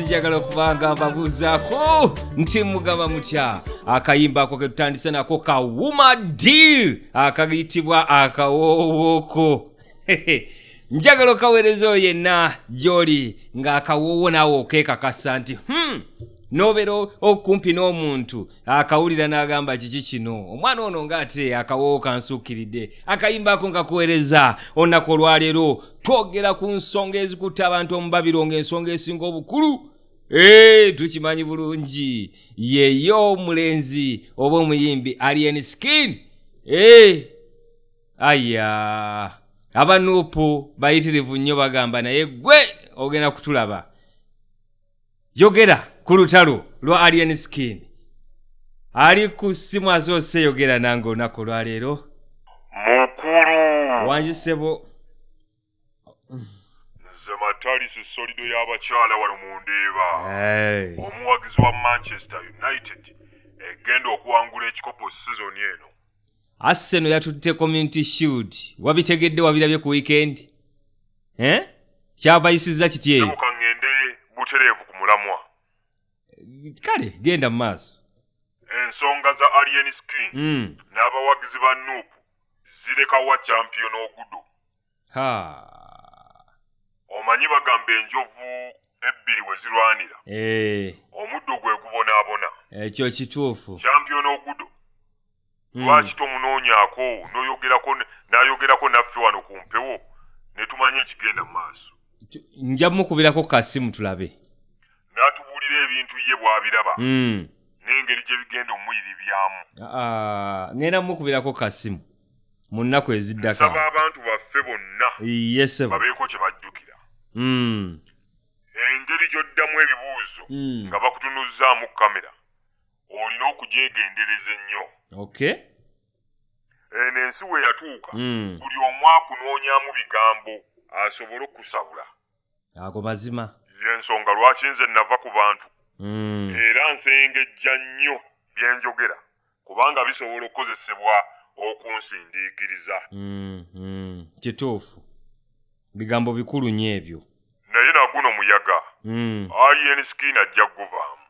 njagala okuba nga mbabuuzaako nti mugaba mutya akayimba ako ke tutandise nako ka wuma deal akayitibwa akawoowoko njagala okaweereza oyo yenna gy'oli ng'akawoowo naawe okeekakasa nti hmm, nobeera okumpi n'omuntu akawulira n'agamba kiki kino omwana ono ng'ate akawoowo kansuukiridde akayimba ako nga kuweereza olunaku olwaleero twogera ku nsonga ezikutte abantu omubabiro ng'ensonga esinga obukulu ee tukimanyi bulungi yeyo omulenzi oba omuyimbi alien skin ee aya abanuupu bayitirivu nnyo bagamba naye gwe ogenda kutulaba yogera ku lutalo lwa alien skin ali ku ssimu azoose yogera nange olunaku olwaleero mukulu wangi sebo nze matalisi solido y'abakyala wano mu ndeeba omuwagizi wa manchester united egenda okuwangula ekikopo sizoni eno Arsenal yatutte community shield wabitegedde wabirabye ku weekend eh? kyabayisizza kiti eyo mukangende butereevu ku mulamwa kale genda mu maaso ensonga za alien skin mm. n'abawagizi ba nup zirekawa champion ogudo ha omanyi bagamba enjovu ebbiri we zirwanira eh. omuddo gwe gubonaabona ekyo eh, kituufu kyampiyona ogudo hmm. lwaki tomunoonyako noyogerako nayogerako naffe wano ku mpewo ne tumanya ekigenda mu maaso nja mukubirako kasimu tulabe n'atubuulira ebintu ye bw'abiraba hmm. n'engeri gye bigenda omuyiribyamu ah, ah, ngenda mukubirako kasimu mu nnaku eziddako abantu baffe bonna babeeko kye bajjukira hmm. engeri gy'oddamu ebibuuzo hmm. nga bakutunuzzaamu kamera olina okugyegendereza ennyo okay eno ensi we yatuuka hmm. buli omu akunoonyamu bigambo asobole okusabula ago mazima yensonga lwaki nze nava ku bantu hmm. era nsengejja nnyo byenjogera kubanga bisobola okukozesebwa okunsindiikiriza hmm, hmm. kituufu bigambo bikulu nyo ebyo naye naguno muyaga alien skin ajja kuguvaamu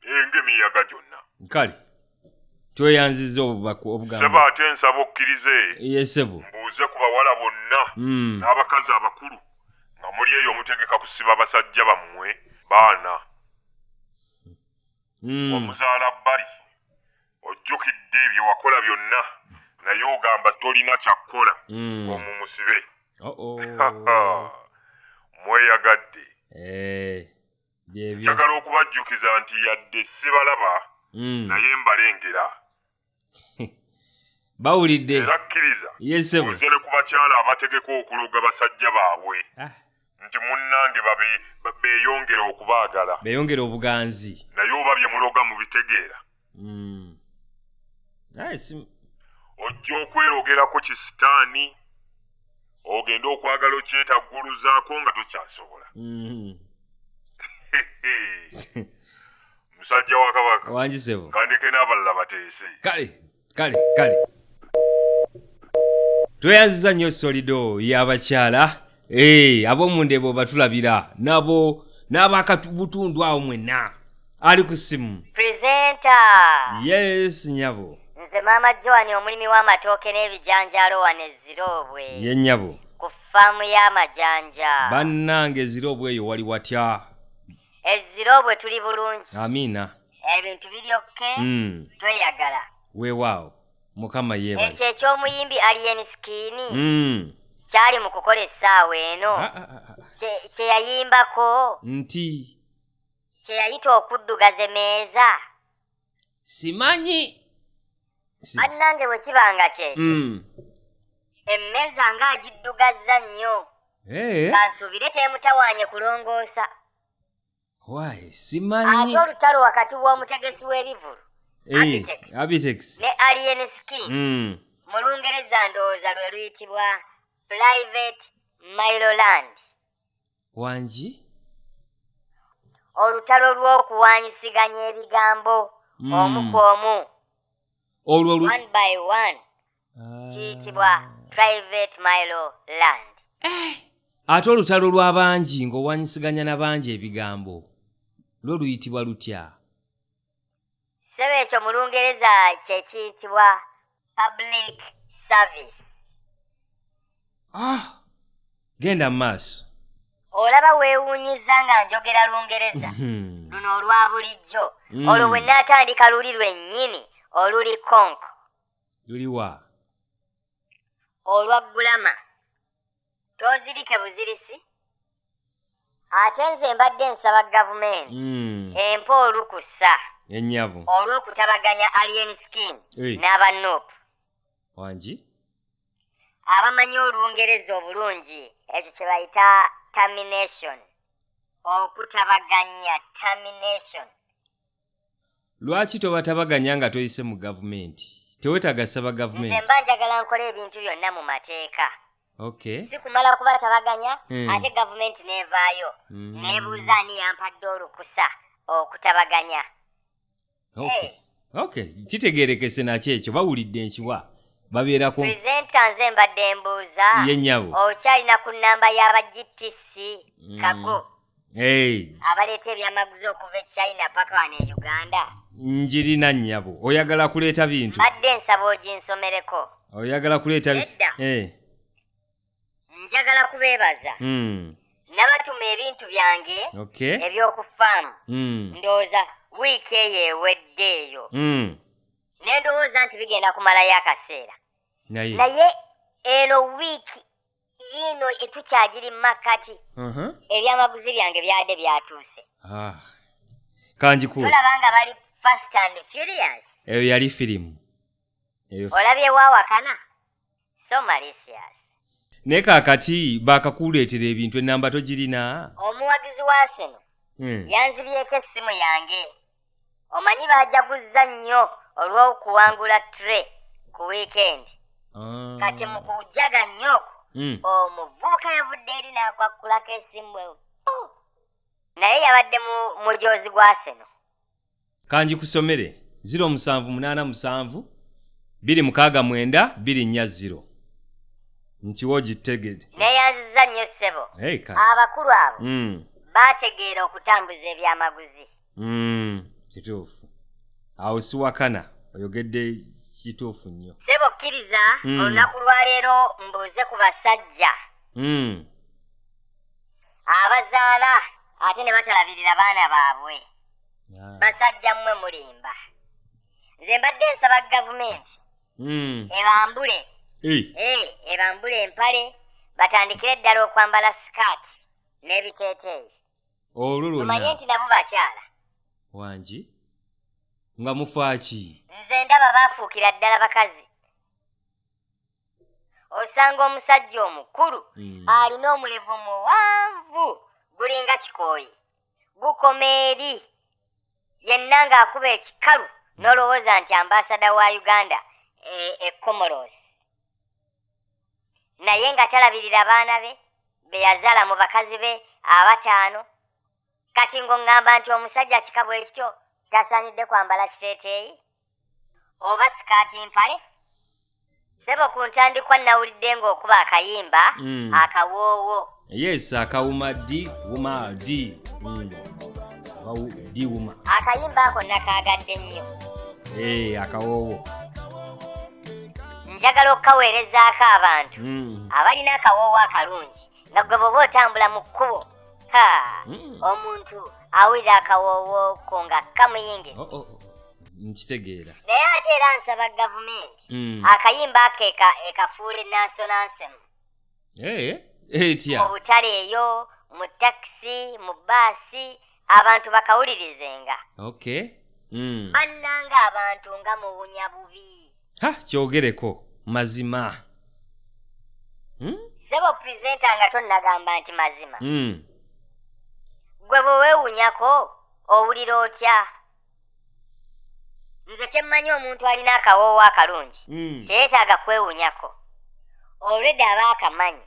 Eh, ng'emiyaga gyonna kale tweyanziza obubaka sebo obugambo ate nsaba okkirize ye sebo mbuuze ku bawala bonna Mm. n'abakazi abakulu nga muli eyo omutegeka kusiba basajja bammwe baana Mm. omuzaala bbali ojjukidde bye wakola byonna naye ogamba tolina kyakkola Mm. omumusibe Oh, oh. mweyagadde Eh, njagala okubajjukiza nti yadde sibalaba mm. naye mbalengera bawulidde era kkiriza oze ne ku bakyala abategeka okuloga basajja baabwe ah. nti munnange beeyongera okubaagala beeyongera obuganzi naye oba bye muloga mubitegeera hmm. ojja okweyogerako ki sitaani ogende okwagala okyetagguluzaako nga tokyasobola hmm. musajja wa kabaka wangisebo kandeke n'abalala bateese kale kale kale tweyanziza nnyo solido y'abakyala Hey, eh, abomundebo batulabira nabo n'abakabutundu awo mwenna ali ku ssimu presenta yes nyabo nze maama joani omulimi w'amatooke n'ebijanjaalo wano eziroobwe ye nyabo ku faamu y'amajanja bannange eziroobwe eyo wali watya eziroobwe tuli bulungi amiina ebintu biri okke mm. tweyagala weewaawo mukama yebale ekyo eky'omuyimbi alien skin Mm. kyali mu kukola essaawa eno Ah, ah, ah, ah. kye- kye yayimbako nti kye yayita okuddugaza emeeza simanyi Si- bannange bwe kiba nga kye Mm. emmeeza nga agiddugazza nnyo Eh. kansuubire teemutawaanye kulongoosa wayi simanyi ate olutalo wakati w'omutegesi w'ebivulu Eh, Abitex. abitex ne alien skin Mm. mu lungereza ndowooza lwe luyitibwa private miloland wangi olutalo lw'okuwanyisiganya ebigambo Mm. omu ku omu olwo lu- one by one kiyitibwa private milo land eh, ate olutalo lw'abangi ng'owanyisiganya na bangi ebigambo lwo luyitibwa lutya sebo ekyo mu lungereza kye kiyitibwa public service ah genda mu maaso olaba weewuunyiza nga njogera lungereza hmm. luno olwa bulijjo hmm. olwo bwe nnaatandika luli lwennyini oluli konko luliwa olwa gulama tozirike buzirisi ate nze mbadde nsaba gavumenti hmm. empa olukusa enyabo olw'okutabaganya alien skin n'aba nup wangi abamanyi olungereza obulungi ekyo kye bayita termination okutabaganya termination lwaki tobatabaganya nga toyise mu gavumenti tewetaga saba gavumenti mba njagala nkola ebintu byonna mu mateeka okay sikumala kubatabaganya hmm. ate gavumenti nevaayo hmm. nebuuza ani yampadde olukusa okutabaganya okay okay kitegerekese nakyo ekyo bawulidde nkiwa babeera ku presenta nze mbadde mbuuza ye nyabo okyalina ku namba yaba gtc hmm. kago abaleeta ebyamaguzi okuva e china paka wano e uganda njirina nnyabo oyagala kuleeta bintu badde nsaba oginsomereko oyagala kuleeta edda eh. njagala kubeebaza hmm. nabatuma ebintu byange eby'oku faamu hmm. ndowooza wiiki eyo ewedde eyo hmm. ne ndowooza nti bigenda kumalayo akaseera naye eno wiiki yiino etukyagiri mu makkati ebyamaguzi byange byade byatuuse ah. kanjikuolaba nga bali fast and furious eyo yali firimu olabye wawakana so malicious naye kakati bakakuleetera ebintu enamba togirina omuwagizi wa sino hmm. yanzibyeko essimu yange omanyi baajaguzza nnyo olw'okuwangula tre ku wiikendi ah. kati mu kujaga nnyo okwo hmm. omuvubuka yavudde eri n'akwakkulako esimu ewo oh. naye yabadde mu mujoozi gwaseno kanjikusomere ziro omusanvu munaana musanvu biri mukaaga mwenda biri nnya ziro nkiwa ogitegede neyanziza nnyo ssebo abakulu abo hmm. baategeera okutambuza ebyamaguzi mm, kituufu awo siwakana oyogedde kituufu nnyo sebo kkiriza mm. olunaku lwaleero mbuuze ku basajja mm. abazaala ate ne batalabirira baana baabwe ah. basajja mmwe mulimba nze mbadde nsaba gavumenti hmm. ebambule eh. Eh, ebambule empale batandikire ddala okwambala sikaati n'ebiteeteeyi olwo lwonnaomanye nti nabo bakyala wangi nga mufaaki nze ndaba baafuukira ddala bakazi osanga omusajja omukulu hmm. alina omulevu muwanvu gulinga kikooyi gukoma eri yenna ng'akuba ekikalu nolowooza nti ambasada wa uganda e, e comoros naye nga talabirira baana be be yazaala mu bakazi be abataano kati ng'oŋŋamba nti omusajja kika bwe kityo tasaanidde kwambala kiteeteeyi oba sikaati mpale sebo ku ntandikwa nnawulidde ng'okuba akayimba mm. akawoowo yes akawuma d wuma d mm. d wuma akayimba ako nakaagadde nnyo ee eh, akawoowo njagala okukaweerezaako abantu mm. abalina akawoowo akalungi nga gwe bwoba otambula mu kkubo ha mm. omuntu awulira akawoowo ko nga kamuyingi oh, oh, oh. nkitegeera naye ate era nsaba gavumenti akayimba ako ekafuule nansonansimu etya mu butale eyo mu takisi mu baasi abantu bakawulirizenga okay mm. bannanga abantu nga muwunya bubi ha kyogereko mazima hmm? sebo presenta nga tonnagamba nti mazima mm. gwe bwe weewunyako owulira otya nze kyemmanyi omuntu alina akawoowo akalungi mm. teyetaaga kwewunyako olwedde aba akamanyi